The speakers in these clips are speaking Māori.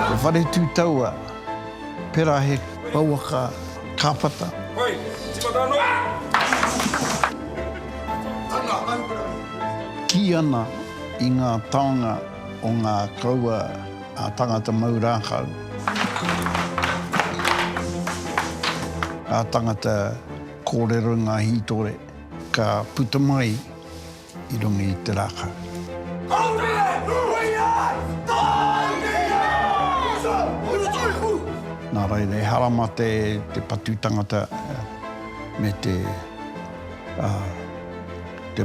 Ko Wharetūtaua, pera he pouaka kāpata. Kī ana i ngā taonga o ngā kaua. Ngā tangata mau rākau. Ngā tangata kōrero i ngā hītore ka puta mai i runga i te rākau. Nā reira, e harama te patu tangata me te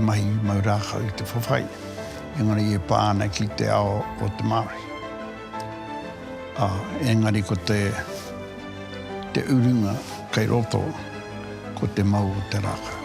mahi mau rākau i te whawhai. Engari e pā ana ki te ao o te Māori. Ā, engari ko te, te urunga kei roto, ko te mau o te rākau.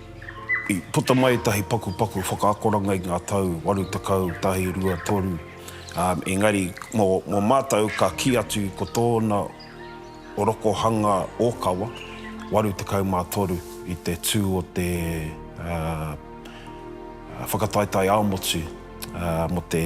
I puta mai ētahi pakupaku whakaakoranga i ngā tau 80, 1, 2, tonu, ā, engari mō, mō mātou ka kī atu ko tōna rokohanga ōkawa, 83, i te tū o te, ā, ā, whakataetae ā-motu, ā, mō te.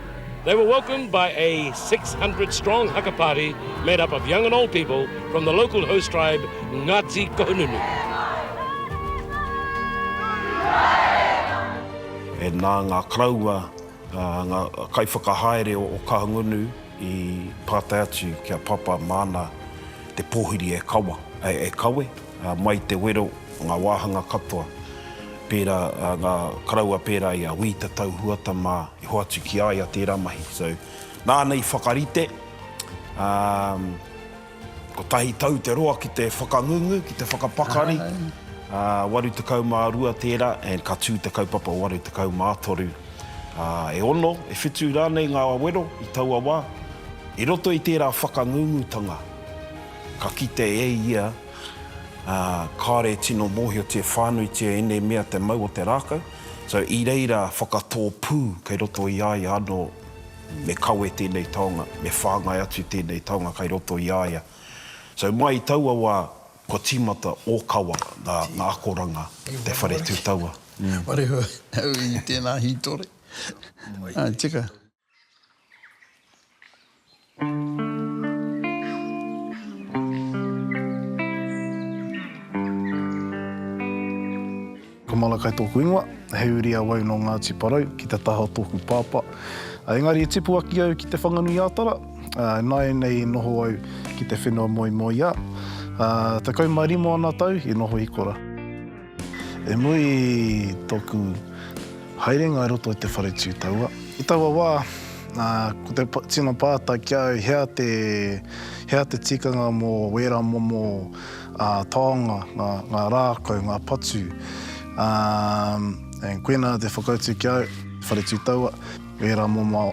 They were welcomed by a 600 strong haka party made up of young and old people from the local host tribe Ngati Kohununu. E nā ngā karaua, ngā kaiwhakahaere o Kahungunu i pātai atu ki a Papa māna te pōhiri e kawa, e kawe. Mai te wero, ngā wāhanga katoa, pērā ngā karaua pērā i a Wī Te Tau Huata mā i hoatu ki a ia tērā mahi. So, nāna i whakarite, kotahi tau te roa ki te whakangungu, ki te whakapakari, 82 tērā, and ka tū te kaupapa o 83. E ono, e whitu rānei ngā wero i taua wā, i roto i tērā whakangungutanga. Ka kite e ia, ā, kāore e tino mōhiotia whānuitia ēnei mea te mau o te rākau, so i reira whakatō pū kei roto i a ia anō me kawe tēnei taonga, me whāngai atu tēnei taonga kei roto i a ia. So mai i taua wā, kua tīmata ōkawa ngā akoranga o te whare tū taua. Whare hou i tēnā hītori. Tika. Ko Malakai tōku ingoa, he uri awau nō Ngāti Porou, ki te taha o tōku pāpā. Engari i tipu aki au ki Te Whanganui-ā-Tara, nāianei i noho au ki te whenua moemoeā. Tekau mā rima ōna tau i noho i kora. E moe i tōku haerenga i roto i te whare tū taua. I taua wā, ko te tino pātai ki au, hea te, hea te tikanga mō wērā momo taonga, ngā, ngā rākau, ngā patu. Ā, koinā te whakautu ki au, whare tū taua, wērā momo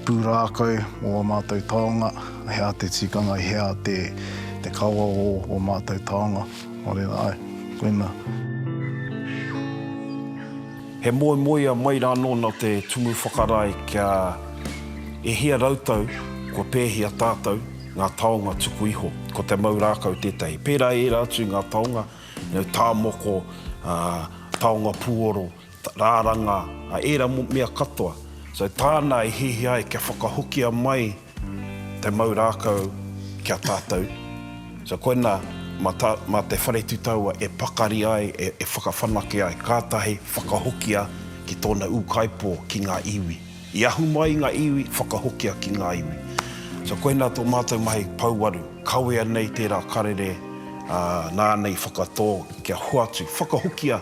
pūrākau mō ō mātou taonga, hea te tikanga, hea te, te kawa o ō mātou taonga. Nō reira, āe, koinā. He moemoeā mai rā nōna te Tumu Whakarae kia e hia rautau kua pēhia tātou ngā taonga tuku iho. Ko te mau rākau tētahi. Pērā i ērā atu i ngā taonga, tāmoko, taonga pūoro, Raranga, a era mo mea katoa. So tāna e hihi ai kia whakahokia mai te mau rākau ki a tātou. So koina ma ta, ma te whare tutaua e pakari ai, e, e whakawhanake ai, kātahi whakahokia ki tōna ūkaipō, ki ngā iwi. I ahu mai i ngā iwi, whakahokia ki ngā iwi. So koina tō mātou mahi pouaru, kawea nei tērā karere, ā, nāna i whakatō kia hoatu, whakahokia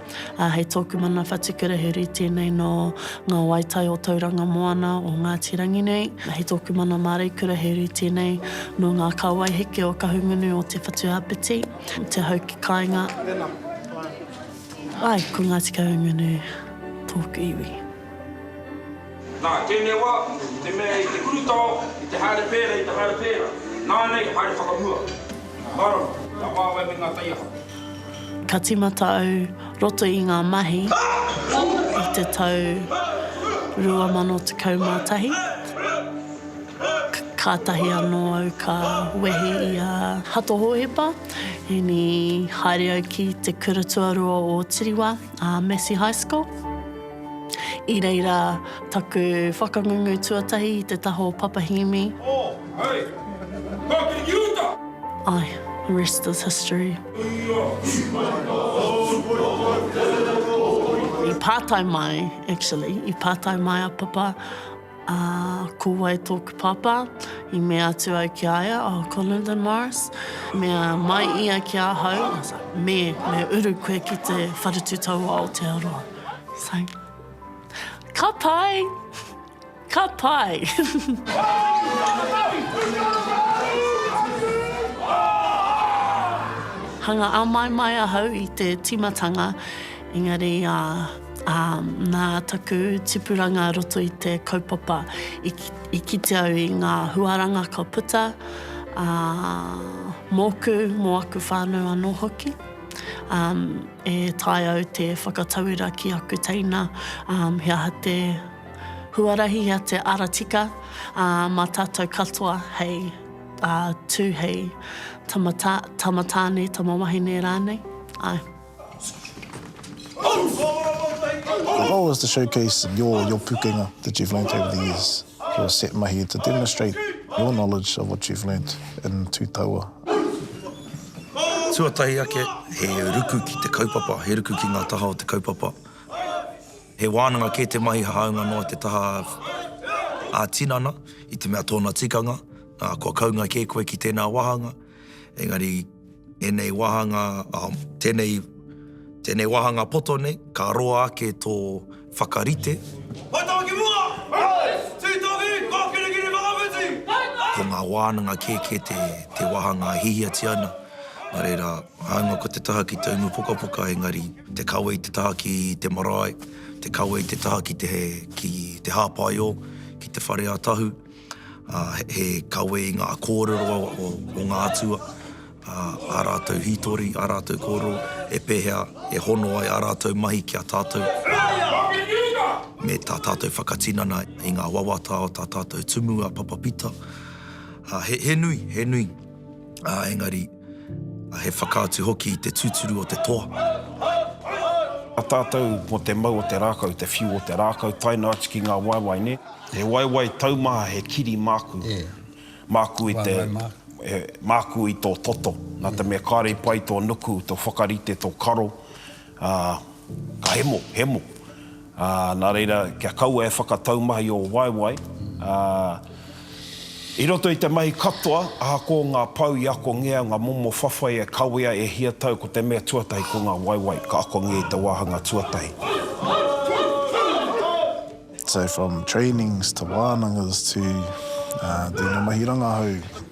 Ā, hei tōku mana whatukura he uri tēnei nō ngā waetai o Tauranga Moana o Ngāti Rangi nei. Hei tōku mana māreikura he uri tēnei nō ngā kāwai heke o Kahungunu o Te Whatu Āpiti, Te Hau ki Kāinga. Tēnā, whānau. Āe, ko Ngāti Kahungunu tōku iwi. Nā, tēnei wā, i te mea i te urutao, i te haere pērā, i te haere pērā, nānei, haere whakamua. Marama, ngā wāwae me ngā taiaha. Ka timata au roto i ngā mahi i te tau 2011, kātahi anō au ka wehi i a Hato Hōhepa, ēnī, haere au ki te kura tuarua o Tiriwa, a Massey High School. I reira taku whakangungu tuatahi i te taha o Papahīmi. Oh, hei! Ka kiri ki uta! Ae, the rest is history. I pātai mai, actually, i pātai mai a Papa, Ā, ko wai tōku pāpā? I mea atu au ki a ia, Oh, ko Lyndon Morris. I mea mai ia ki ahau, I was like, Me, me uru koe ki te wharetu tau o Aotearoa. So, ka pai! Ka pai! Hanga āmaimai ahau i te tīmatanga. Engari, ā, nā taku tipuranga roto i te kaupapa, i kite au i ngā huaranga ka puta, ā, mōku, mō aku whānau anō hoki, ā, e taea au te whakatauira ki aku teina, ā, he aha te huarahi, he aha te ara tika, ā, mā tātou katoa hei, ā, tū hei tama, tama tāne, tama wahine rānei, āe. The goal is to showcase your your pukenga that you've learnt over the years. Your set mahi to demonstrate your knowledge of what you've learnt in Tū Taua. Tuatahi ake, he ruku ki te kaupapa, he ruku ki ngā taha o te kaupapa. He wānanga kē te mahi hāunga noa te taha ā-tinana i te mea tōna tikanga, ā, kua kaunga kē koe ki tēnā wāhanga. Engari, ēnei wāhanga, tēnei, tēnei wāhanga poto nei, ka roa ake tō whakarite. Hai tawa ki mua! Hai! Tūtohi, kō kirikiri whakawhiti! Hai tā! Ko ngā wānanga kēkē te, te wāhanga e hihiatia ana. Nā reira, hāunga ko te taha ki te umu pukapuka, engari, te kawe i te taha ki te marae, te kawe i te taha ki te, ki te hāpaiō, ki te whare ā Tahu. He kawe i ngā kōrero o ngā atua, ā rātou hītori, ā rātou kōrero, he pēhea e hono ai ā rātou mahi ki a tātou. Me tā tātou whakatinana i ngā wawata o tā tātou tumu a Papa Pita. He nui, he nui, engari. A he whakaatu hoki i te tuturu o te toa. A tatou mo te mau o te rakau, te whiu o te rakau, tae noa atu ki nga waewae, ne. He waewae taumaha, he kiri maku. E. Maku i te. Waewae maku. Maku i to toto. Na te mea kare i pai to nuku, to whakarite, to karo, Ā, ka hemo, hemo. Ā, nā reira, kia kaua e whakatau mahi ō waewae, ā, i roto i te mahi katoa, ahakoa ngā pou i akongea, ngā momo whawhai e kawea, e hia tau, ko te mea tuatahi ko ngā waewae ka akongea i te wāhanga tuatahi. So from trainings to wānangas to tēnei mahi rangahau.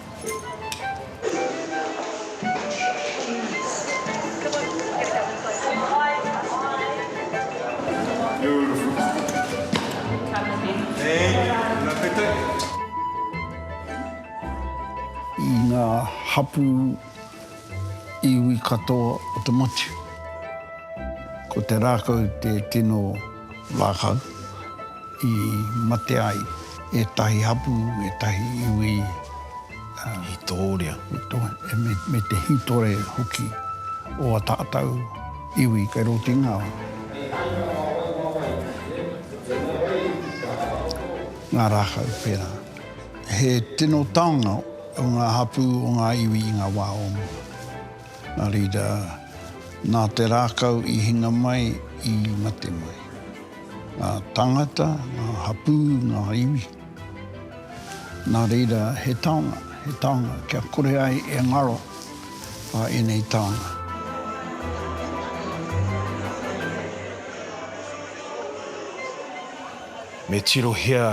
I ngā hapū iwi katoa o te motu, ko te rākau te tino. Rākau, i mate ai ētahi hapū, ētahi iwi, ā. Hītoria. Hītoria, me te hītore hoki o a tātou iwi kei roto i ngā. Ngā rākau pērā. He tino taonga o ngā hapū o ngā iwi i ngā wā o mua. Nā reira, nā te rākau i hinga mai, i mate mai. Ngā tāngata, ngā hapū, ngā iwi. Nā reira, he taonga, he taonga kia kore ai e ngaro a ēnei taonga. Me tirohia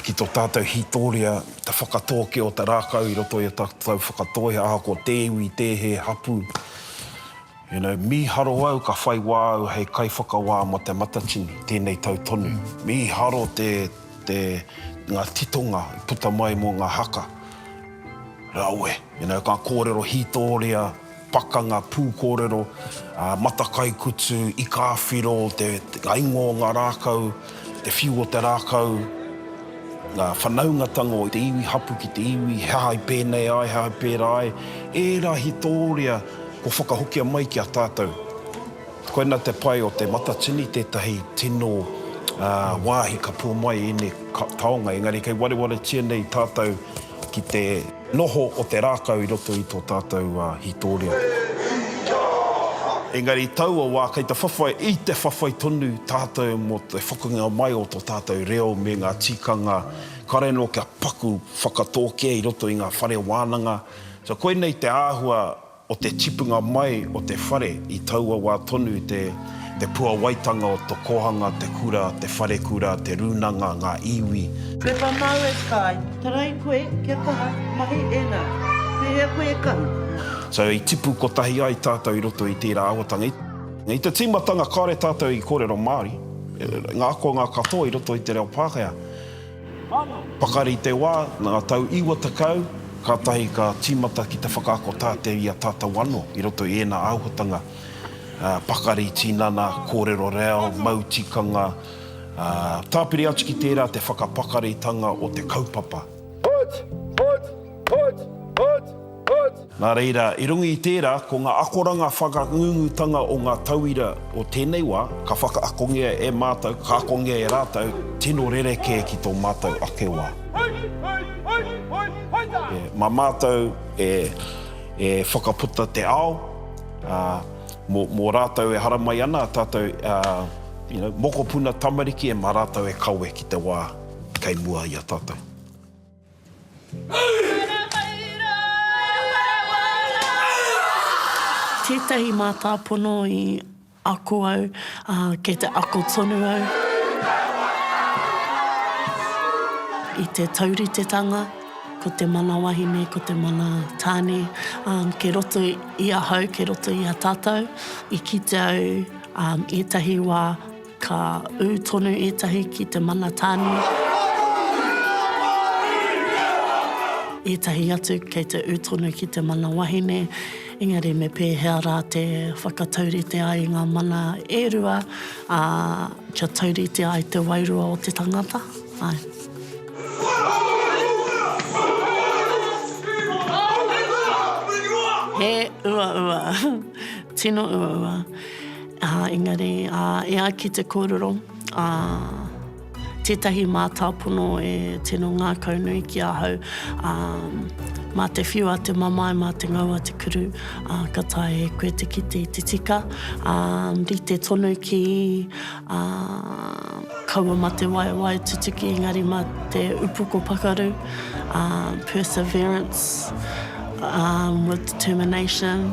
ki tō tātou hītōria Te whakatōkia o te rākau i roto i a tātou whakatoi, ahakoa te iwi, te hē, hapū. You know, mīharo au ka whai wā au hei kaiwhakawā mō Te Matatini tēnei tau tonu. Mīharo te, te, ngā titonga i puta mai mō ngā haka. Rawe. You know, ka kōrero hītōria. Pakanga pūkōrero, matakaikutu, ikāwhiro, ngā ingoa o ngā rākau, te whiu o te rākau, ngā whanaungatanga o te iwi hapu ki te iwi, he aha i pēnei ai, he aha i pērā ai, ērā hitōria kua whakahokia mai ki a tātou. Koina te pai o Te Matatini, tētahi tino wāhi ka pō mai ēnei taonga, engari kei warewaretia nei tātou ki te. Noho o te rākau i roto i tō tātou hītōria. Engari taua wā kei te whawhai, i te whawhai tonu tātou mō te whakangia mai o tō tātou reo me ngā tikanga kare nō kia paku whakatōkia i roto i ngā whare wānanga. So koinei te āhua O te tipunga mai o te whare i taua wā tonu te te puawaitanga o to kohanga, te kura, te wharekura, te rūnanga, ngā iwi. Pepa māu e Sky. Tarai koe, kia kaha, mahi ēnā. Pēhea koe e kahu? So i tipu kotahi ai tātou i roto i tērā awatanga. I te tīmatanga kāore tātou i kōrero Māori, ngā akonga katoa i roto i te reo Pākehā. Pakari te wā, ngā tau iwa tekau, kātahi ka tīmata ki te whakaako tātei i a tātau anō i roto i ēnā āhuatanga pakari, tinana, kōrero reo, mau tikanga, tāpiri atu ki tērā te whakapakaritanga o te kaupapa. Nā reira, i runga i tērā, ko ngā akoranga whakangungutanga o ngā tauira o tēnei wā, ka whakaakongia e mātou, ka akongia e rātou, tino rerekē ki tō mātou ake wā. Mā mātou e whakaputa te ao, ā, mō rātou e haramai ana ā tātou mokopuna tamariki, e mā rātou e kawe ki te wā kei mua i a tātou. Tētahi mātāpono i ako au, ā, kei te ako tonu au i te tauritetanga, ko te mana wahine, ko te mana tāne, ā, kei roto i ahau, kei roto i a tātou, i kite au ētahi wā, Ka ū tonu ētahi ki te mana tāne. Ētahi atu kei te ū tonu ki te mana wahine, engari me pēhea rā te whakataurite ai ngā mana e rua, ā, kia taurite ai te wairua o te tangata? Āe. He uaua. Tino uaua. Ā, engari, ā, e ai ki te kōrero, ā, tētahi mātāpono e tino ngākaunui ki ahau, ā, mā te whiua te mamae, mā te ngaua te kuru, ā, ka taea e koe te kite i te tika, ā, rite tonu ki, ā, kaua mā te waewae tutuki, engari mā te upoko pakaru, ā, perseverance, ā, with determination.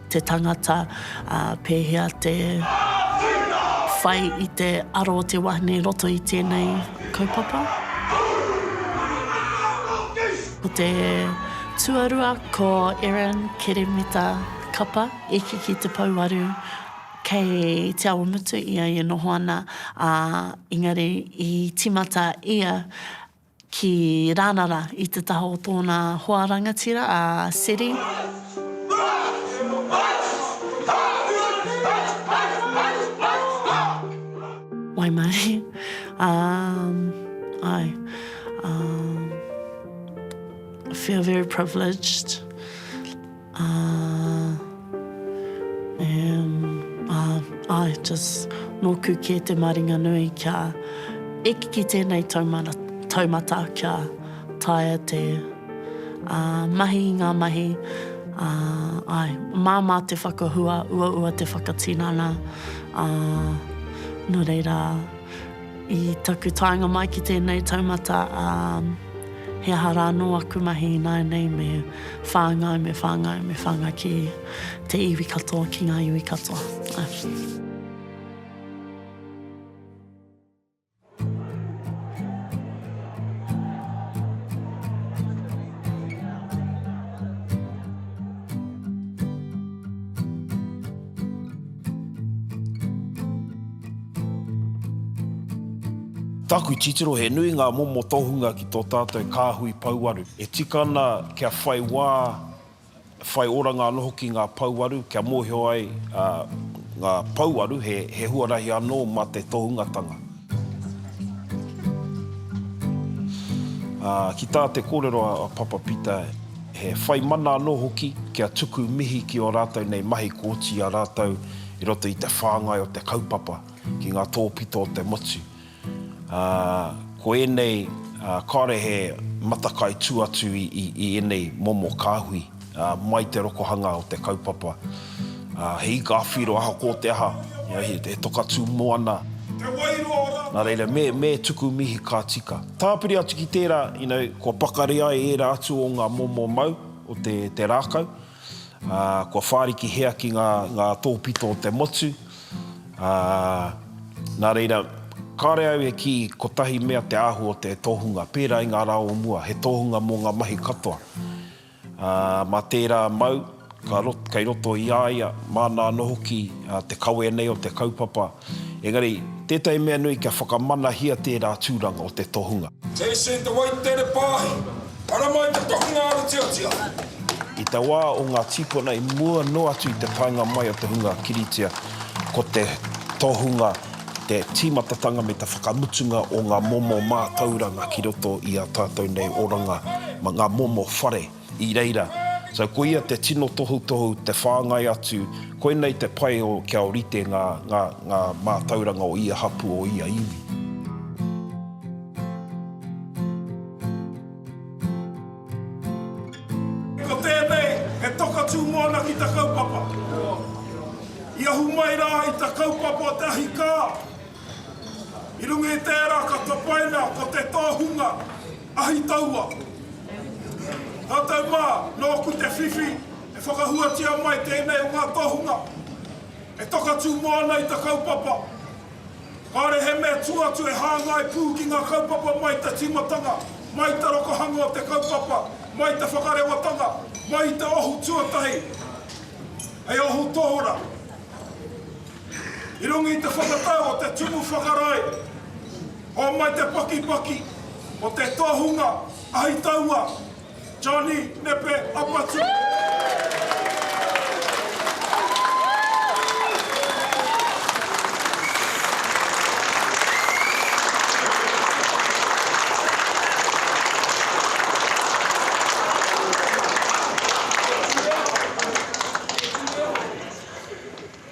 te tangata, ā, pēhea te whai i te aro o te wahine i roto i tēnei kaupapa. Ko te tuarua ko Erin Keremita Kapa, eke ki te pouaru, kei Te Awamutu ia i noho ana, ā, engari i tīmata ia ki Ranara i te taha o tōna hoa rangatira a Seri. Waimarie, ā, āe, ā, feel very privileged. Ā, um, ā, ā, just nōku kē te maringa nui kia eke ki tēnei taumara, taumata kia taea te, ā, mahi i ngā mahi, ā, āe, māmā te whakahua, uaua te whakatinana, ā, nō reira, I taku taenga mai ki tēnei taumata, ā, he aha rā anō aku mahi ināianei me whāngai, me whāngai, me whāngai ki te iwi katoa, ki ngā iwi katoa. Taku titiro he nui ngā momo tohunga ki tō tātou kāhui pouaru. E tika ana kia whai wā, whai oranga anō hoki ngā pouaru kia mōhio ai ngā pouaru he huarahi anō mā te tohungatanga. Ā, ki tā te kōrero a Papa Pita, he whai mana anō hoki kia tuku mihi ki ō rātou nei mahi kua oti i a rātou i roto i te whāngai o te kaupapa ki ngā tōpito o te motu. Ā, ko ēnei kāore he matakai tū atu i ēnei momo kāhui. Mai te rokohanga o te kaupapa, he ika awhiro ahakoa te aha, he toka tū moana, nā reira, me tuku mihi ka tika. Tāpiri atu ki tērā, kua pakari ai ērā atu o ngā momo mau o te rākau, kua whārikihia ki ngā tōpito o te motu, nā reira, kāore au e kī kotahi mea te āhua o te tohunga, pērā i ngā rā o mua, he tohunga mō ngā mahi katoa. Ā, mā tērā mau, ka rot, kei roto i a ia, māna anō hoki te kawe nei o te kaupapa. Engari, tētahi mea nui kia whakamanahia tērā tūranga o te tohunga. Jason Te Waitere Paahi, Ara mai te tohunga aratiatia! I te wā o ngā tīpuna i mua noa atu i te taenga mai o te hunga kiritia, ko te tohunga te tīmatatanga me te whakamutunga o ngā momo mātauranga ki roto i ā tātou nei oranga, ngā momo whare i reira. So, ko ia te tino tohutohu, te whāngai atu, koinei te pai o kia orite ngā, ngā, ngā mātauranga o ia hapū, o ia iwi. Ko tēnei he toka tū moana ki ta kaupapa. I ahu mai rā i ta kaupapa o te ahi kā. I runga i tērā ka tapaina ko te tohunga ahi taua. Tātou mā, nōku te whiwhi e whakahuatia mai tēnei o ngā tohunga e toka tū moana i ta kaupapa. Kāre he mea tū atu e hāngai pū ki ngā kaupapa mai i te tīmatanga, mai i te rokohanga o te kaupapa, mai i te whakarewatanga, mai i te ohu tuatahi hei ohu tohora. I runga i te whakatau o te Tumu Whakarae, hōmai te pakipaki o te tohunga ahi taua, Johnny Nepe Apatu.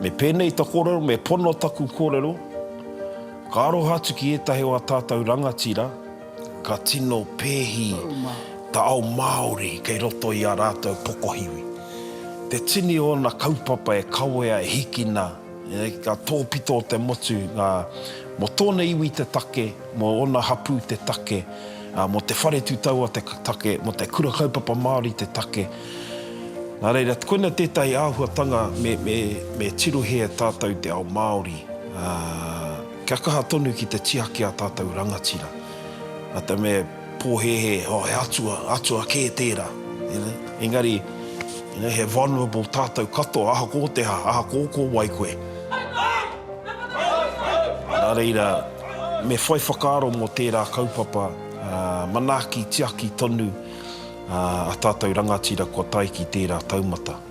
Me pēnei ta kōrero, me pono taku kōrero, ka aroha atu ki ētahi o a tātou rangatira Ka tino pēhi ta ao Māori kei roto i a rātou pokohiwi. Te tini o ōna kaupapa e kawea e hikina, ka tōpito te motu nga mo tōna iwi te take, mo ōna hapū te take, mo te whare tutaua te take, mo te Kura Kaupapa Māori te take. Nā reira, koina tētahi āhuatanga me tirohia e tātou te ao Māori. Kia kaha tonu ki te tiaki a tātou rangatira. Nā te mea pōhēhē, oh, he atua, atua kē tērā. You know? Engari, you know, he vulnerable tātou katoa, aha ko te aha, aha ko ko wai koe. Nā reira, me whai whakaaro mō tērā kaupapa manaaki tiaki tonu a tātou rangatira kua tae ki tērā taumata.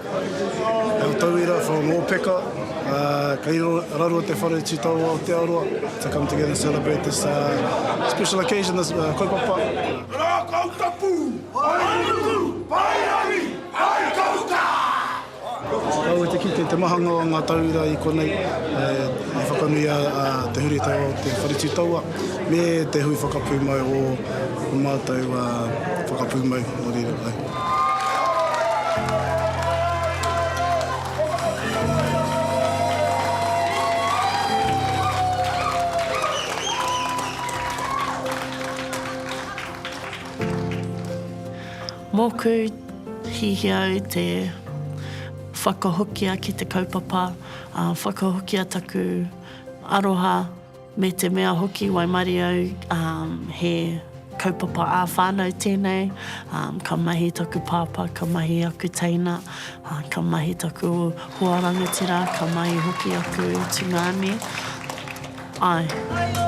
Ko Tauira from Ōpeka, kei raro te whare tū tau o Aotearoa to come together and celebrate this special occasion, this kaupapa. Rākau tapu, whainuku, whairangi, whaikauka! Kaua te kite te mahanga o ngā tauira i konei e whakanui a te huritao o te whare tū taua me te hui whakapūmau o ō mātou whakapūmau nō reira. Mōku, hihia au te whakahokia ki te kaupapa, whakahokia taku aroha. Me te mea hoki waimarie au he kaupapa ā whānau tēnei, ka mahi taku pāpā, ka mahi aku teina, ka mahi taku hoa rangatira, ka mahi hoki aku tungāne, āe.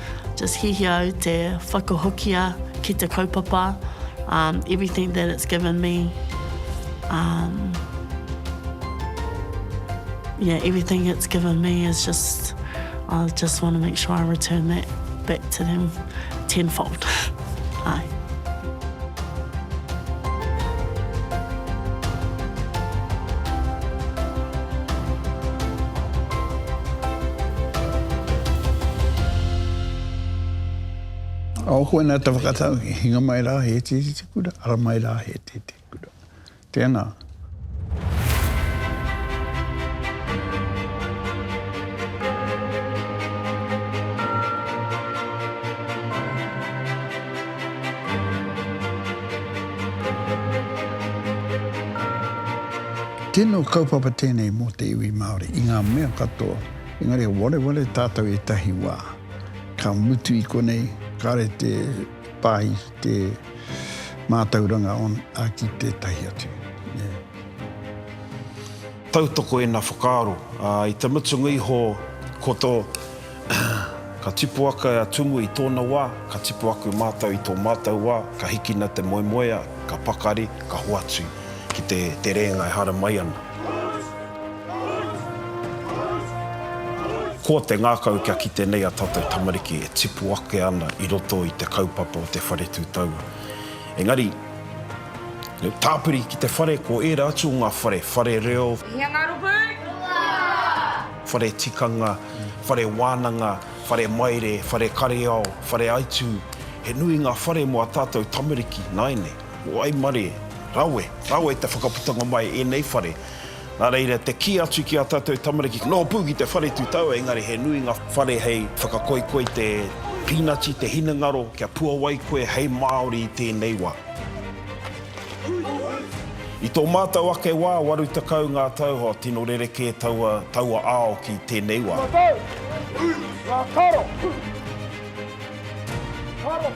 Just hiahia au te whakahokia ki te kaupapa, um, everything that it's given me, um, yeah, everything it's given me is just, I just want to make sure I return that back to them tenfold. Āe. Aokoa nā te whakatau, hinga mai rā he iti te kura, ara mai rā he iti te kura. Tēnā. Tino kaupapa tēnei mō te iwi Māori i ngā mea katoa, engari he wareware tātou ētahi wā. Ka mutu i konei, kāre te pāhi. te mātauranga ki tētahi atu. Tautoko ēnā whakaaro. I te mutunga iho, ko tō ka tipu ake a Tumu i tōna wā, ka tipu aku mātou i tō mātou wā, ka hikina te moemoea, ka pakari, ka hoatu ki te rēnga e haramai ana. Ko te ngākau kia kite nei a tātou tamariki e tipu ake ana i roto i te kaupapa o te whare tū taua. Engari, tāpiri ki te whare ko ērā atu o ngā whare, whare reo, whare tikanga, whare wānanga, whare maire, whare kareao, whare aitū, he nui ngā whare mō a tātou tamariki nāianei. Waimare, rawe, rawe te whakaputanga mai i ēnei whare. Nā reira, te kī atu ki ā tātou tamariki, nō pū ki te whare tutau, engari he nui ngā whare hei whakakoikoi te pīnati, te hinengaro, kia puawai koe hei Māori i tēnei wā. I tō mātou ake wā, waru tekau ngā tau, hoa, tino rerekē taua, taua ao ki tēnei wā. Ngā tau, ngā karo, karo.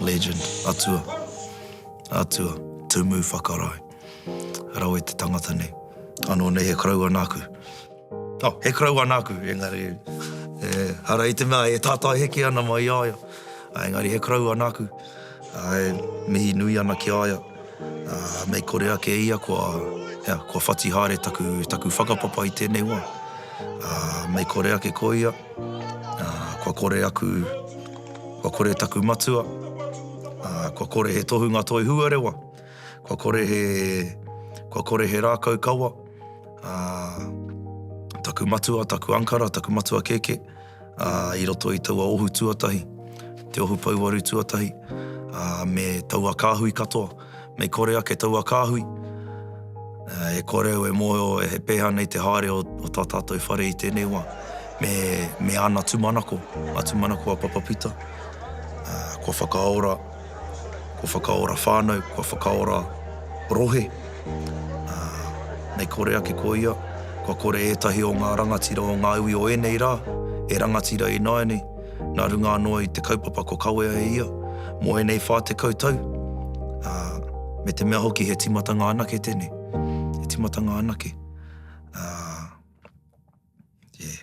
Legend, Atua, Atua, Tumu Whakarae, Rawe te tangata nei. Anō nei he koroua nāku. Oh, he koroua nāku, engari, e, ara i te mea e tātai heke ana mai i a ia. Ā, engari he koroua nāku, ā, e mihi nui ana ki a ia, ā, mei kore ake e ia kua, ea, kua whati haere taku, taku whakapapa i tēnei wā. Ā, mei kore ake ko ia, ā, kua kore aku, kua kore taku matua, ā, kua kore he tohunga toi huarewa. kua kore he, kua kore he rākau kawa, ā, taku matua, taku ankara, taku matua kēkē, ā, i roto i taua ohu tuatahi, te ohu pouaru tuatahi, ā, me taua kāhui katoa, mei kore ake taua kāhui, ā, e kore au e mōhio he pēhea nei te haere o tā tātou whare i tēnei wā, me, me ana tūmanako, ngā tūmanako a Papa Pita, ā, kua whakaora, kua whakaora whānau, kua whakaora rohe, ā, mei kore ake ko ia, kua kore ētahi o ngā rangatira o ngā iwi o ēnei rā, e rangatira ināianei, nā runga anō i te kaupapa kua kawea e ia, mō ēnei whā tekau tau, ā, me te mea hoki he tīmatanga anake tēnei, he tīmatanga anake, ā, yeah.